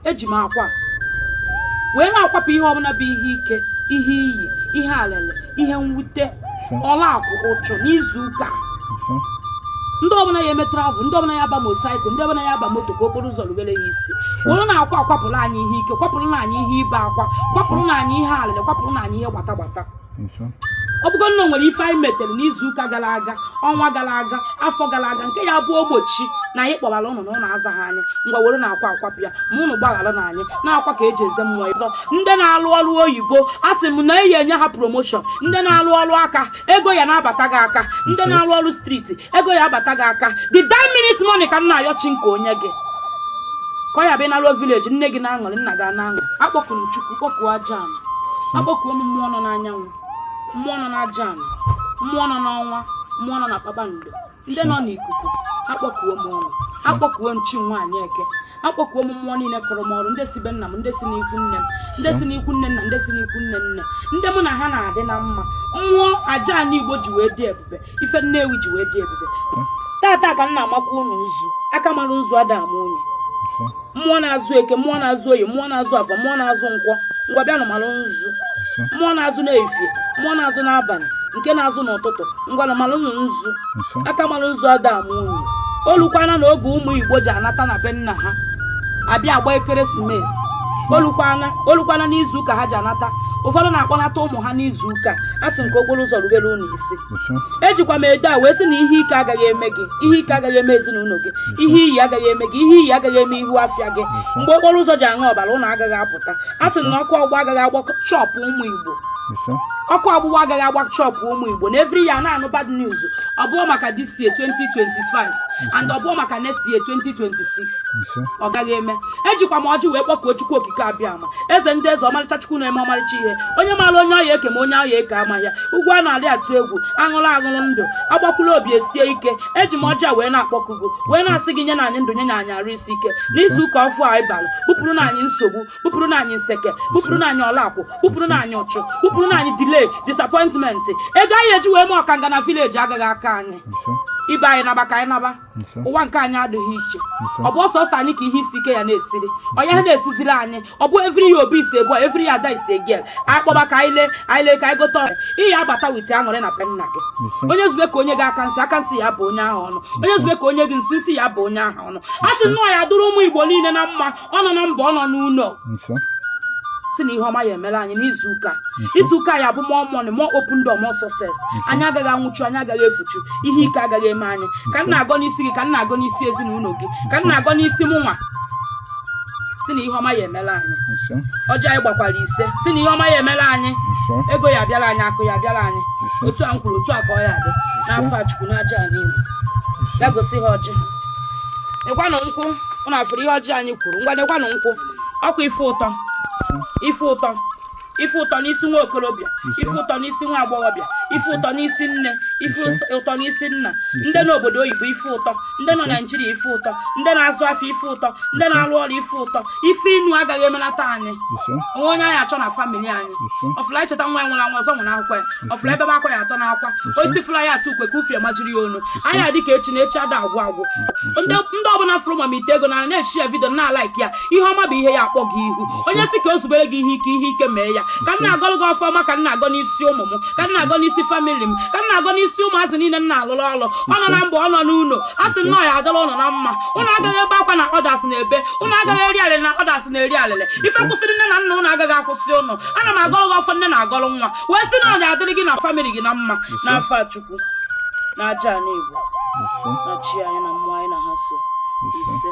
eji m akwa wee na-akwapụ ihe ọbụla bụ ihe ike ihe iyi ihe alele ihe mwute ọla akwụ ụchụ n'izu ụka ndị ọbụla ya eme travel ndị ọbụla ya aba motorcycle ndị ọbụla ya aba moto ka okporo ụzọ rubere ya isi were na akwa kwapụrụ anyị ihe ike kwapụrụ na anyị ihe ibe akwa kwapụrụ na anyị ihe alele kwapụrụ na anyị ihe gbata gbata ọ bụgo na o nwere ife anyị metere n'izu ụka gara aga ọnwa gara aga afọ gara aga nke ya bụ ogbochi na anyị kpọbara ụnụ na ụnụ azaghị anyị ngwa were na akwa kwapụ ya ma ụnụ gbaghara na anyị na akwa ka eji eze mmụọ ịzọ ndị na-alụ ọrụ oyibo a sị m na eyi enye ha promotion ndị na-alụ ọrụ aka ego ya na-abata gị aka ndị na-alụ ọrụ street ego ya abata gị aka the dying minute money ka m na-ayọ chineke o nye gị ka ọ ya abụ ị naruo village nne gị na-aṅụrị nna gị na-aṅụ akpọkuru chukwu kpọkuo aja akpọkuo m mmụọ nọ n'anyanwụ mmụọ nọ n'aja ana mmụọ nọ n'ọnwa mmụọ nọ na kpakpando ndị nọ n'ikuku akpọkuo m ọnụ akpọkuo m chi nwaanyị eke akpọkuo m mmụọ niile kọrọ m ọrụ ndị si be nna m ndị si n'ikwu nne m ndị si n'ikwu nne nna ndị si n'ikwu nne nne ndị mụ na ha na-adị na mma mmụọ aja ana igbo ji wee dị ebube ife nnewi ji wee dị ebube tata ka m na-amakwa ụnụ nzu aka mara nzu ada ama onye mmụọ na-azụ eke mmụọ na-azụ oye mmụọ na-azụ afọ mmụọ na-azụ nkwọ ngwa bịanụ mara nzu mmụọ na-azụ n'efie mmụọ na-azụ n'abalị nke na-azụ n'ụtụtụ ngwanụ maranụ nzu aka mara nzu ada ama onye o lukwana na oge ụmụ igbo ji anata na be nna ha abịa agba ekeresimesi o lukwana o lukwana n'izu ụka ha ji anata ụfọdụ na-akpọnata ụmụ ha n'izu ụka a sị m ka okporo ụzọ rubere ụnụ ejikwa m edo a wee sị na ihe ike agaghị eme gị ihe ike agaghị eme ezinụlọ gị ihe iyi agaghị eme gị ihe iyi agaghị eme ihu afịa gị mgbe okporo ụzọ ji aṅụ ọbara ụnụ agaghị apụta a sị na ọkụ ọgbụgba agaghị agba shop ụmụ Igbo ọkụ ọgbụgba agaghị agba shop ụmụ Igbo na every year na-anụ bad news ọ bụọ maka this year 2025 and ọ bụọ maka next year 2026 ọ gaghị eme ejikwa m ọjị wee kpọkuo chukwu okike abịama eze ndị eze ọmarịcha chukwu na-eme ọmarịcha ihe onye maara onye ọ ya eke ma onye ọ ya eke ama ya ugwu a na-arị atụ egwu aṅụrụ ndụ agbakwuru obi esie ike eji m ọjị a wee na-akpọku gị wee na-asị gị nye na anyị ndụ nye na anyị arụ isi ike n'izu ụka ọfụụ anyị bara bupụrụ na anyị nsogbu bupụrụ na anyị nseke bupụrụ na anyị ọlakwụ bupụrụ na anyị ụchụ bupụrụ na anyị delay disappointment ego anyị eji wee mee ọkanga na village agaghị akọ anyị ibe anyị naba ka anyị naba ụwa nke anyị adịghị iche ọ bụ sọsọ anyị ka ihe isi ike ya na-esiri ọ ya na-esiziri anyị ọ bụ every year obi is a boy every year ada is a girl anyị kpọba ka anyị lee anyị lee ka anyị gote ọrịa ị ya abata wite aṅụrị na be nna gị onye zube ka o nye gị aka nsị aka nsị ya bụ onye ahụ ọnụ onye zube ka o nye gị nsị nsị ya bụ onye ahụ ọnụ a sị na ọ ya adụrụ ụmụ igbo niile na mma ọ nọ na mba ọ nọ n'ụlọ si na ihe ọma ya emela anyị n'izu ụka izu ụka ya bụ more money more open door more success anyị agaghị anwụchu anyị agaghị efuchu ihe ike agaghị eme anyị ka m na-agọ n'isi gị ka m na-agọ n'isi ezinụlọ gị ka m na-agọ n'isi mụ nwa si na ihe ọma ya emela anyị ọjị anyị gbakwara ise si na ihe ọma ya emela anyị ego ya abịala anyị akụ ya abịala anyị otu a m kwuru otu a ka ọ ya adị n'afa chukwu na aja anyị ya gosi ha ọjị nekwanụ nkwụ ụnụ afụrụ ihe ọjị anyị kwuru ngwa nekwanụ nkwụ ọkụ ife ụtọ ife ụtọ ife ụtọ n'isi nwa okorobịa ife ụtọ n'isi nwa agbọghọbịa ife ụtọ n'isi nne ife ụtọ n'isi nna ndị nọ obodo oyibo ife ụtọ ndị nọ naijiria ife ụtọ ndị na-azụ afịa ife ụtọ ndị na-arụ ọrụ ife ụtọ ife inu agaghị emelata anyị o nwe onye anyị achọ na famili anyị ọfụla echeta nwa ya nwụrụ anwụ ọzọ nwụrụ akwụkwọ ya ọfụla ebe akwa ya atọ n'akwa osisi fụla ya atụ ukwe ka ufie majiri ya onu anyị adị ka echi na echi ada agwụ agwụ ndị ọbụla fụrụ ma ite ego na na-eshia vidio na-alaiki ya ihe ọma bụ ihe ya akpọ gị ihu onye si ka o zubere gị ihe ike ihe ike mee ya ka m na-agọlụ gị ọfọma ka m na-agọ n'isi ụmụ m ka m na-agọ n'isi famili m ka m na-agọ n'isi ụmụazị niile m na-alụrụ ọrụ ọ nọ na mba ọ nọ n'ụlọ a sị na ọ ya adịla ụnụ na mma ụnụ agaghị ebe akwa na others na-ebe ụnụ agaghị eri alịlị na others na-eri alịlị ife kwụsịrị nne na nna ụnụ agaghị akwụsị ụnụ ana m agọrọ gị ọfọ nne na-agọrọ nwa wee sị na ọ ga-adịrị gị na famịlị gị na mma n'afa chukwu na aja ana igbo na chi anyị na mmụọ anyị na ha so ise